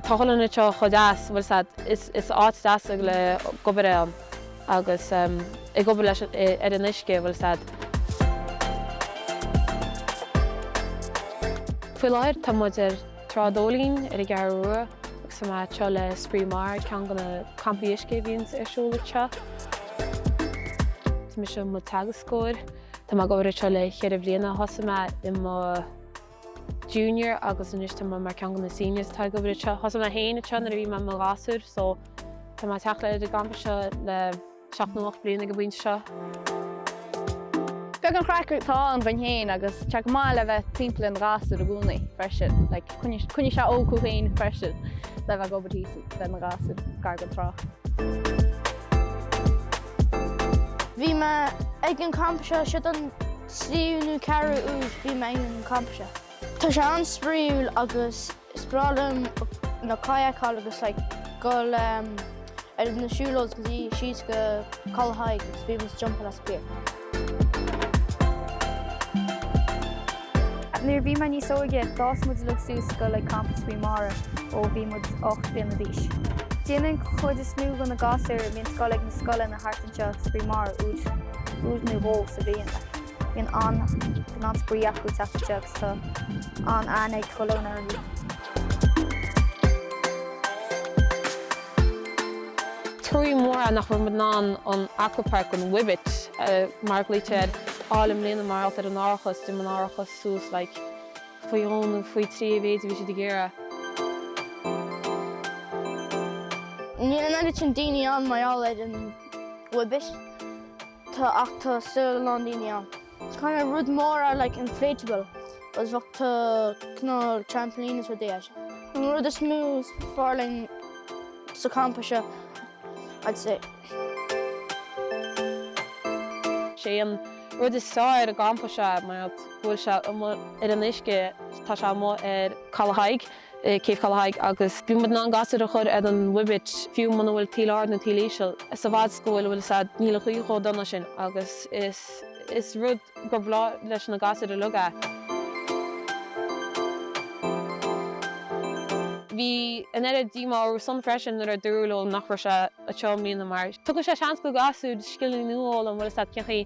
Tá sé go hálainn anseo chomh deas, bhfuil a fhios agat, is áit deas é le bheith ag obair ann agus ag obair leis ar an uisce, bhfuil a fhios agat. Faoi láthair tá muid ar Trá an Dóilín ar an gCeathrú Rua agus tá mé anseo le Spraoi Mara, ceann de na campaí uisce a bhíonns ar siúl anseo. Tá mise i mo theagascóir. Tá mé ag obair anseo le cheithre bhliana. Thosaigh mé i mo junior agus anois tá mé mar ceann de na seniors atá ag obair anseo. Thosaigh mé féin anseo nuair a bhí mé i mo ghasúr so tá mé ag teacht go dtí an gcampa seo le seacht nó ocht bliana ag an bpointe seo. Beag an chraic atá ann dhúinn féin agus tá sé go maith le bheith timpeall ar ghasúir i gcónaí freisin. Like coinníonn sé óg thú féin freisin le bheith ag obair thíos le na gasúir gar don trá. Bhí mé ag an campa seo, seo é an tríú nó ceathrú uair a bhí mé ag an campa seo. Tá sé an-spraíúil agus is breá liom na kayakáil agus like dul ar na siúlóid go dtí síos go Caladh Thaidhg agus bhí muid ag jumpáil as an pier. Nuair a bhí mé níos óige, d'fhás muid uilig suas ag goil ag campa Spraoi Mara ó bhí muid ocht bliana d'aois. Déanann an chuid is mó dho na gasúir a bhíonns ag goil ag na scoileanna thart anseo Spraoi Mara uair nó dhó sa bhliain like. Bíonn an bíonn an-spraoi acu ag teacht anseo agus tá an-aithne ag chuile dhuine orthu. Truaí mór é nach raibh muid in ann an aquapark, an Wibit mar a ghlaoitear air, a fháil i mbliana mar gheall ar an árachas. D'imigh an árachas suas like faoi dhó nó faoi trí a mhéid a bhí siad ag iarraidh. Níl an oiread sin daoine ann mar gheall ar an Wibit ach tá still a lán daoine ann. Kind of rud mór é like inflatable agus bheadh cineál trampolines is rudaí. An rud is mó is fearr linn sa campa seo I'd say. Sé an rud is fearr ar an gcampa seo mar go bhfuil sé amuigh ar an uisce tá sé amuigh ar Caladh Thaidhg. Céibh Chaladh Thaidhg agus bíonn muid in ann gasúir a chur ar an Wibit fiú muna bhfuil taoille ard nó taoille íseal a fhad 's go bhfuil, bhfuil a fhios agat, níl an ghaoth chomh dona sin agus is is rud gur bhreá leis na gasúir uilig é. Bhí an oiread díomá orthusan freisin nuair a dúradh leo nach raibh sé anseo i mbliana mar tugann sé seans do ghasúir scileanna nua a fhoghlaim bhfuil a fhios agat cén chaoi